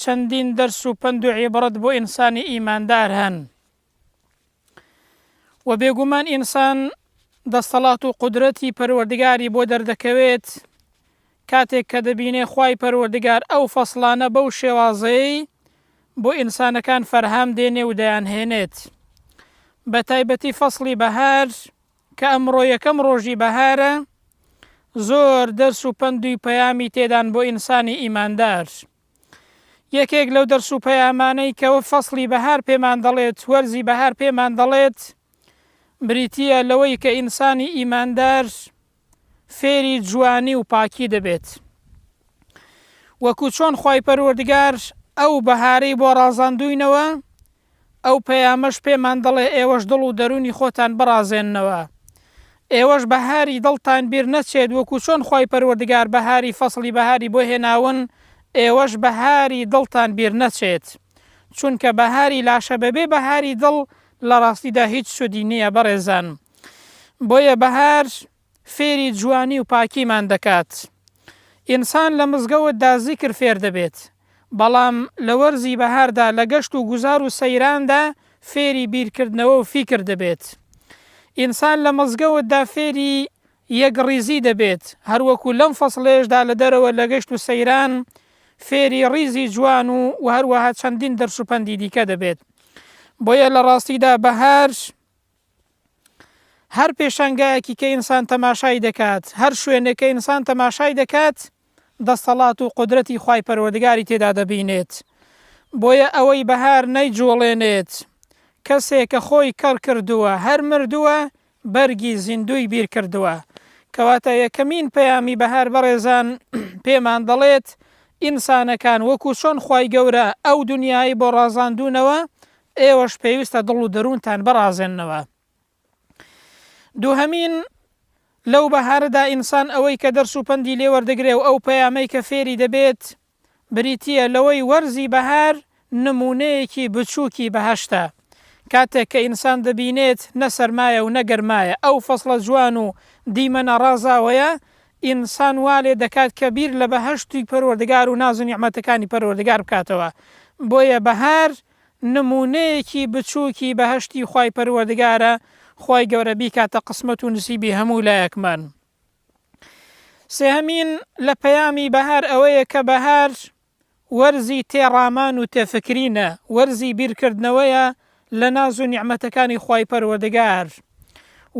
چەندین دەرس و پەند و عیبڕەت بۆ ئینسانی ئیماندار هەن و بێگومان ئینسان دەستەڵات و قدرەتی پەروەردگاری بۆ دەردەکەوێت کاتێک کە دەبینێ خی پەروەردگار ئەو فەصلانە بەو شێوازەی بۆ ئینسانەکان فەرهام دێنێ و دەیانهێنێت بە تایبەتی فەصلی بەهار کە ئەمڕۆ یەکەم ڕۆژی بەهارە زۆر دەرس و پەند و پەیامی تێدان بۆ ئینسانی ئیماندار یەکێک لەو دەرس و پەیامانەی کەوە فەسڵی بەهار پێمان دەڵێت وەرزی بەهار پێمان دەڵێت بریتیە لەوەی کە ئینسانی ئیماندار فێری جوانی و پاکی دەبێت وەکو چۆن خی پەروەردگار ئەو بەهارەی بۆ ڕازاندوینەوە ئەو پەیامەش پێمان دەڵێ ئێوەش دڵ و دەروونی خۆتان بڕازێننەوە. ئێوەش بەهاری دڵتان بیر نەچێت وەکو چۆن خوای پەروەردگار بەهاری فەسڵی بەهاری بۆ هێناون ئێوەش بەهاری دڵتان بیر نەچێت. چونکە بەهاری لاشە بەبێ بەهاری دڵ لە ڕاستیدا هیچ سوودی نییە بەڕێزان. بۆیە بەهار فێری جوانی و پاکیمان دەکات. ئینسان لە مزگەوتدا زیکر فێر دەبێت، بەڵام لە وەرزی بەهاردا لە گەشت و گوزار و سەیراندا فێری بیرکردنەوە و فیکر دەبێت. ئینسان لە مزگەوتدا فێری یەکڕیزی دەبێت، هەروەکو لەم فەسڵەیشدا لە دەرەوە لە گەشت و سەیران فێری ڕیزی جوان و هەروەها چەندین دەرس و پەندی دیکە دەبێت. بۆیە لە ڕاستیدا بەهار، هەر پێشانگایەکی کە ئینسان تەماشای دەکات هەر شوێنێک کە ئینسان تەماشای دەکات دەستەڵات و قدرەتی خی پەروەردگاری تێدا دەبینێت بۆیە ئەوەی بەهار نەیجوڵێنێت کەسێک کە خۆی کەڕ کردووە هەر مردووە بەرگی زیندوی بیر کردووە کەواتە یەکەمین پەیامی بەهار بەڕێزان پێمان دەڵێت ئینسانەکان وەکو چۆن خی گەورە ئەو دنیای بۆ ڕازاندونەوە ئێوەش پێویستە دڵ و دەروونتان بڕازێننەوە. دووهەمین، لەو بەهارەدا ئینسان ئەوەی کە دەرس و پەندی لێ وەردەگرێ و ئەو پەیامەی کە فێری دەبێت، بریتییە لەوەی وەرزی بەهار نموونەیەکی بچووکی بەهەشتە، کاتێک کە ئینسان دەبینێت نە سەرمایە و نە گەرمایە، ئەو فەسڵە جوان و دیمەنە ڕازاوەیە، ئینسان وا لێ دەکات کە بیر لە بەهەشتی پەروەردگار و ناز و نیعمەتەکانی پەروەردگار بکاتەوە. بۆیە بەهار نموونەیەکی بچووکی بەهەشتی خوای پەروەردگارە خوای گەورە بیکاتە قسمەت و نسیبی هەموو لایەکمان سێهەمین لە پەیامی بەهار ئەوەیە کە بەهار وەرزی تێڕامان و تێفکرینە وەرزی بیرکردنەوەیە لە ناز و نیعمەتەکانی خوای پەروەردگار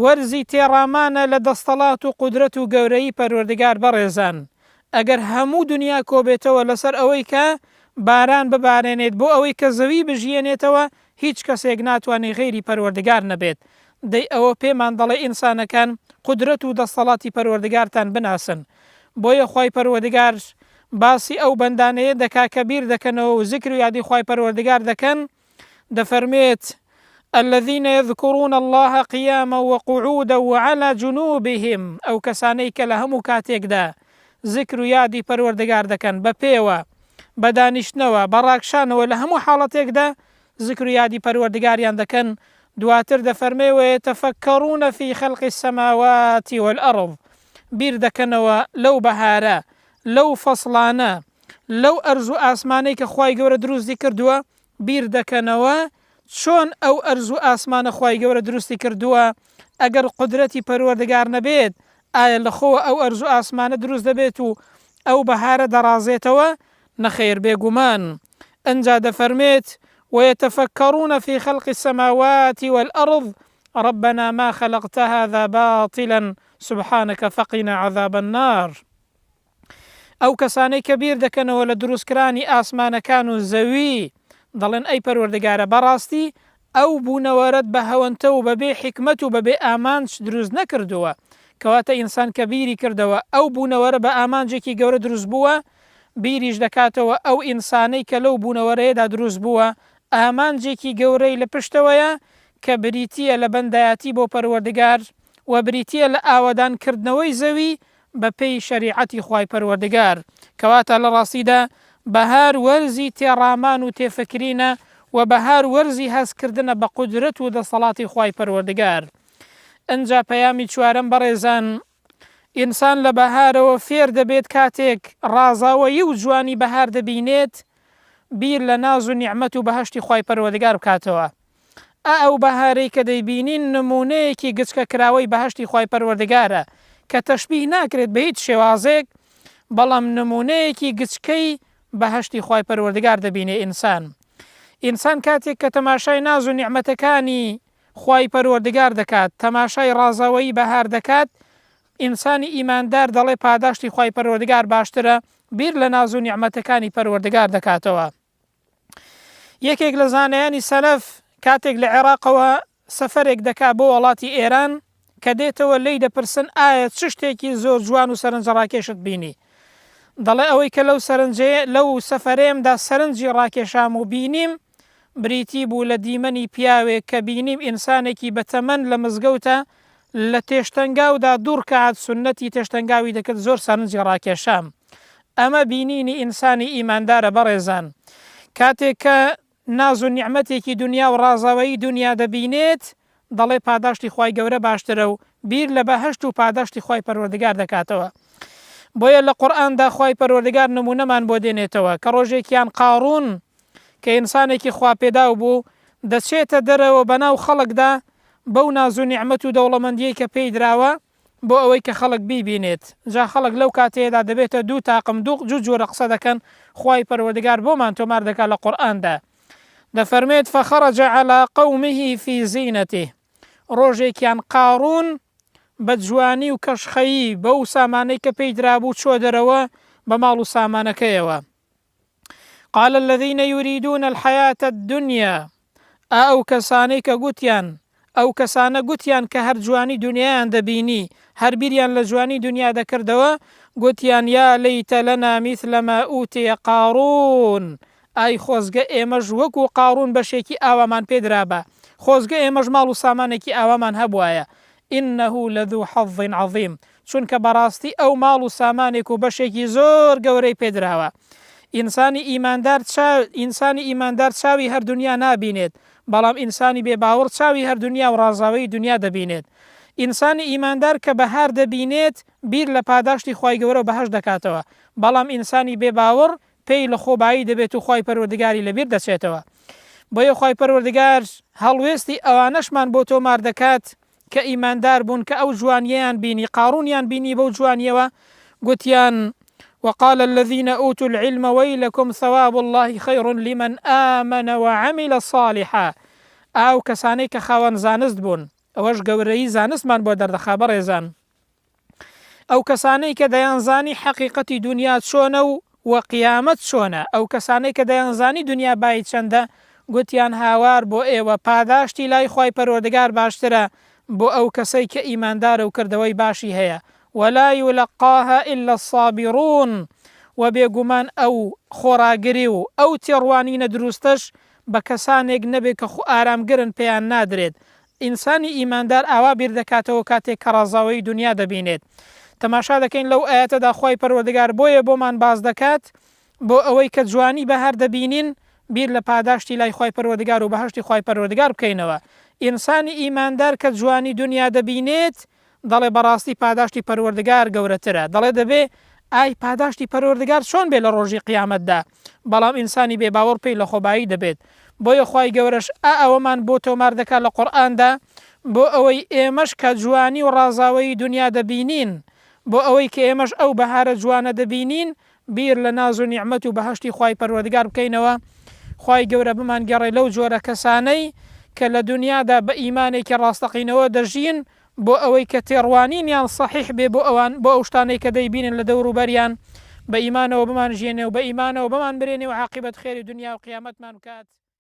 وەرزی تێڕامانە لە دەستەڵات و قودرەت و گەورەیی پەروەردگار بەڕێزان ئەگەر هەموو دونیا کۆبێتەوە لەسەر ئەوەی کە باران ببارێنێت بۆ ئەوەی کە زەوی بژیێنێتەوە هیچ کەسێک ناتوانێت غەیری پەروەردگار نەبێت دەی ئەوە پێمان دەڵێ ئینسانەکان قودرەت و دەستەڵاتی پەروەردگارتان بناسن بۆیە خوای پەروەدگار باسی ئەو بەندانەیە دەکا کە بیر دەکەنەوە و زیکر و یادی خوای پەروەردگار دەکەن دەفەرموێت، الذین یذکرون اللە قیاما وقعودا وعلی جنوبهم، ئەو کەسانەی کە لە هەموو کاتێکدا زیکر و یادی پەروەردگار دەکەن، بە پێوە، بە دانیشتنەوە، بە ڕاکشانەوە، لە هەموو حاڵەتێکدا زیکر و یادی پەروەردگاریان دەکەن، دواتر دەفەرمێ، ویتفکرون فی خلق السماوات والارض، بیر دەکەنەوە لەو بەهارە، لەو فەسڵانە، لەو ئەرز و ئاسمانەی کە خوای گەورە دروستی کردووە بیر دەکەنەوە چۆن ئەو ئەرز و ئاسمانە خوای گەورە دروستی کردووە ئەگەر قدرەتی پەروەردگار نەبێت ئایا لەخۆوە ئەو ئەرز و ئاسمانە دروست دەبێت و ئەو بەهارە دەڕازێتەوە نەخێر بێگومان ئەنجا دەفەرمێت ويتفكرون في خلق السماوات والأرض ربنا ما خلقت هذا باطلا سبحانك فقنا عذاب النار ئەو کەسانەی کە بیر دەکەنەوە لە دروستکرانی ئاسمانەکان و زەوی، دەڵێن، ئەی پەروەردگارە بەڕاستی ئەو بوونەوەرەت بە هەوەنتە و بە بێ حیکمەت و بە بێ ئامانج دروست نەکردووە، کەواتە ئینسان کە بیری کردەوە ئەو بوونەوەرە بە ئامانجێکی گەورە دروست بووە، بیریش دەکاتەوە ئەو ئینسانەی کە لەو بوونەوەرەیەدا دروست بووە ئامانجێکی گەورەی لە پشتەوەیە کە بریتییە لە بەندایەتی بۆ پەروەردگار و بریتییە لە ئاوەدان کردنەوەی زەوی بە پێی شەریعەتی خوای پەروەردگار، کەواتە لە ڕاستیدا بەهار وەرزی تێڕامان و تێفکرینە و بەهار وەرزی هەست کردنە بە قودرەت و دەسەڵاتی خوای پەروەردگار. ئنجا پەیامی چوارەم بەڕێزان ئینسان لە بەهارەوە فێر دەبێت کاتێک ڕازاوەیی و جوانی بەهار دەبینێت بیر لە ناز و نیعمەت و بەهەشتی خوای پەروەردگار بکاتەوە ئا ئەو بەهارەی کە دەیبینین نموونەیەکی گچکە کراوەی بەهەشتی خوای پەروەردگارە کە تەشبیه ناکرێت بە هیچ شێوازێک بەڵام نموونەیەکی گچکەی بەهەشتی خوای پەروەردگار دەبینێ ئینسان ئینسان کاتێک کە تەماشای ناز و نیعمەتەکانی خوای پەروەردگار دەکات تەماشای ڕازاوەیی بەهار دەکات ئینسانی ئیماندار دەڵێ پاداشتی خوای پەروەردگار باشترە بیر لە ناز و نیعمەتەکانی پەروەردگار دەکاتەوە یەکێک لە زانایانی سەلەف کاتێک لە عێراقەوە سەفەرێک دەکا بۆ وڵاتی ئێران کە دێتەوە لی دەپرسن ئایا چ شتێکی زۆر جوان و سەرنجە ڕاکێشت بینی دەڵێ ئەوەی کە لەو سەرنجێ لەو سەفەرێمدا سەرنجی ڕاکێشام و بینیم بریتی بوو لە دیمەنی پیاوێک کە بینیم ئینسانێکی بەتەمەن لە مزگەوتە لە تێشتەنگاودا دوڕکات سنەتی تێشتەنگاوی دەکرد زۆر سەرنجی ڕاکێشام ئەمە بینینی ئینسانی ئیماندارە بەڕێزان کاتێک کە ناز و نیعمەتێکی دونیا و ڕازاوەیی دونیا دەبینێت دەڵێ پاداشتی خوای گەورە باشترە و بیر لە بەهەشت و پاداشتی خوای پەروەردگار دەکاتەوە بۆیە لە قورئاندا خوای پەروەردگار نمونەمان بۆ دێنێتەوە کە ڕۆژێکیان قاڕون کە ئینسانێکی خوا پێداو بوو دەچێتە دەرەوە بەناو خەڵکدا بەو ناز و نیعمەت و دەوڵەمەندیەی کە پێی دراوە بۆ ئەوەی کە خەڵک بیبینێت جا خەڵک لەو کاتەیەدا دەبێتە دوو تاقم دوو جور جۆرە قسە دەکەن خوای پەروەردگار بۆمان تۆمار دەکات لە قورئاندا دەفەرموێت فخرج علی قومه فی زینته ڕۆژێکیان قاڕون بە جوانی و کەشخەیی بەو سامانەی کە پێی درابوو چۆ دەرەوە بە ماڵ و سامانەکەیەوە قال الذين يريدون الحياة الدنيا ئا ئەو کەسانەی کە گوتیان ئەو کەسانە گوتیان کە هەر جوانی دنیایان دەبینی هەر بیریان لە جوانی دنیا دەکردەوە گوتیان یا لەیتە لەنا میثلما ئوتێ قارون ئای خۆزگە ئێمەش وەک و قارون بەشێکی ئاوامان پێدرابە خۆزگە ئێمەش ماڵ و سامانێکی ئاوامان هەبواە انه لذو حظ عظیم، چونکە بەڕاستی ئەو ماڵ و سامانێک و بەشێکی زۆر گەورەی پێ دراوە. ئینسانی ئیماندار چا، ئینسانی ئیماندار چاوی هەر دونیا نابینێت، بەڵام ئینسانی بێ باوەڕ چاوی هەر دونیا و ڕازاوەی دونیا دەبینێت. ئینسانی ئیماندار کە بەهار دەبینێت بیر لە پاداشتی خوای گەورە و بەهەشت دەکاتەوە، بەڵام ئینسانی بێ باوەڕ پێی لە خۆ بایی دەبێت و خوای پەروەردگاری لە بیر دەچێتەوە بۆیە خوای پەروەردگار هەڵوێستی ئەوانەشمان بۆ تۆمار دەکات کە ئیماندار بوون کە ئەو جوانیەیان بینی قاڕونیان بینی بەو جوانیەوە گوتیان وقال الذين أوتوا العلم ويلكم ثواب الله خير لمن آمن وعمل صالحا ئاو کەسانەی کە خاوەن زانست بوون ئەوەش گەورەی زانستمان بۆ دەردەخا بەڕێزان ئەو کەسانەی کە دەیانزانی حەقیقەتی دونیا چۆنە و و قیامەت چۆنە، ئەو کەسانەی کە دەیانزانی دونیا بایی چەندە، گوتیان، هاوار بۆ ئێوە، پاداشتی لای خوای پەروەردگار باشترە بۆ ئەو کەسەی کە ئیماندارە و کردەوەی باشی هەیە، ولا یلقاها الا الصابرون، وە بێگومان ئەو خۆڕاگری و ئەو تێڕوانینە دروستەش بە کەسانێک نەبێت کە خۆئارامگرن پێیان نادرێت ئینسانی ئیماندار ئاوا بیر دەکاتەوە کاتێک کە ڕازاوەیی دونیا دەبینێت. تەماشا دەکەین لەو ئایەتەدا خوای پەروەردگار بۆیە بۆمان باس دەکات بۆ ئەوەی کە جوانی بەهار دەبینین بیر لە پاداشتی لای خوای پەروەردگار و بەهەشتی خوای پەروەردگار بکەینەوە. ئینسانی ئیماندار کە جوانی دونیا دەبینێت، دەڵێ بەڕاستی پاداشتی پەروەردگار گەورەترە، دەڵێ دەبێ ئای پاداشتی پەروەردگار چۆن بێ لە ڕۆژی قیامەتدا، بەڵام ئینسانی بێ باوەڕ پێی لە خۆبایی دەبێت، بۆیە خوای گەورەش ئا ئەوەمان بۆ تۆمار دەکا لە قورئاندا بۆ ئەوەی ئێمەش کە جوانی و ڕازاوەیی دونیا دەبینین بۆ ئەوەی کە ئێمەش ئەو بەهارە جوانە دەبینین بیر لە ناز و نیعمەت و بەهەشتی خوای پەروەردگار بکەینەوە، خوای گەورە بمانگێڕێ لەو جۆرە کەسانەی کە لە دونیادا بە ئیمانێکی ڕاستەقینەوە دەژین، بۆ ئەوەی کە تێڕوانینیان سەحیح بێ بۆ ئەوان، بۆ ئەو شتانەی کە دەیبینن لە دەور و بەریان، بە ئیمانەوە بمانژیێنێ و بە ئیمانەوە بمانمرێنێ و عاقیبەت خێری دونیا و قیامەتمان بکات.